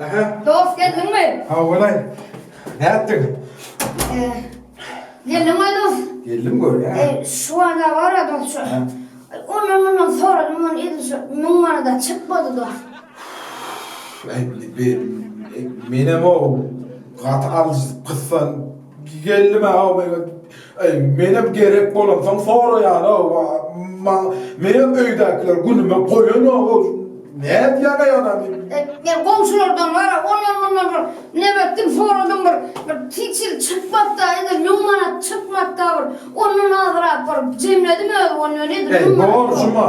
Aha. Dost geldiňmi? Ha bolay. Ne yaptın? Ee, geldim mi dost? Geldim gör ya. Ee, şu anda var ya dost şu. Ondan ondan soralım onu edin şu. Mün bana da çıkmadı dost. Ay, bir, menem o. Kat al kıssan. Geldim ha o. Eý, menem gerek bolansoň soraýan-ow, a-ma, menem öýdäkiler günüme goýanok-ow, nädýäň eý, anam diýip. Men goňşulardan gara, ondan-mundan bir näme etdim, soradym, bir, bir hiç hili çykmapd-a, indi müň manat çykmapd-a, bir ondan azrak bir jemledim, özi, ondan edil müň manat. Eý, borjum-a.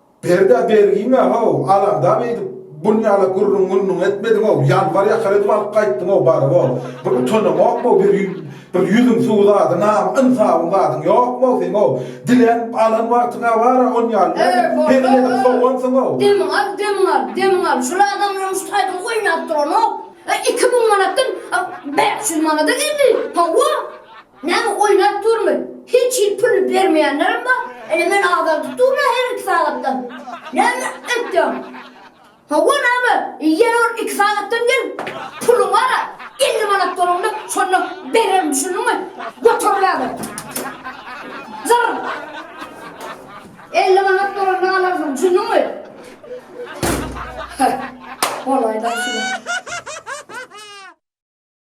Berda bergiňä-how, alada beýdip, bunýala gürrüň-mürrüň etmediň-ow, ýanwar ýakar edip alyp gaýtdyň-ow baryp-ow. Bir utanaňokmy-ow, bir ýüzüň suwy zady, nam-ynsabyň zadyň ýokmy-ow seň-ow? Dilänip alan wagtyň-a bar-a, onýaly nädip hezil edip sowansyň-ow? Demiňi al, demiňi al, demiňi al, şol adamlaryň şu taýdan oýnap duranok. Iki müň manatdan bäş ýüz manada geldi. Hawa! Näme oýnap durmy? Hiç hil puluny bermeýänlerem bar. Ine men azaldyp durma her iki sagatdan. Näme etýäň? Hawa näme, ýene bir iki sagatdan gelip puluňy alar. Elli manat bolanda şonda bererin düşündiňmi? Göter näme? Zyrr! Elli manat bolanda alarsyň düşündiňmi? Heh, bolaýda şular.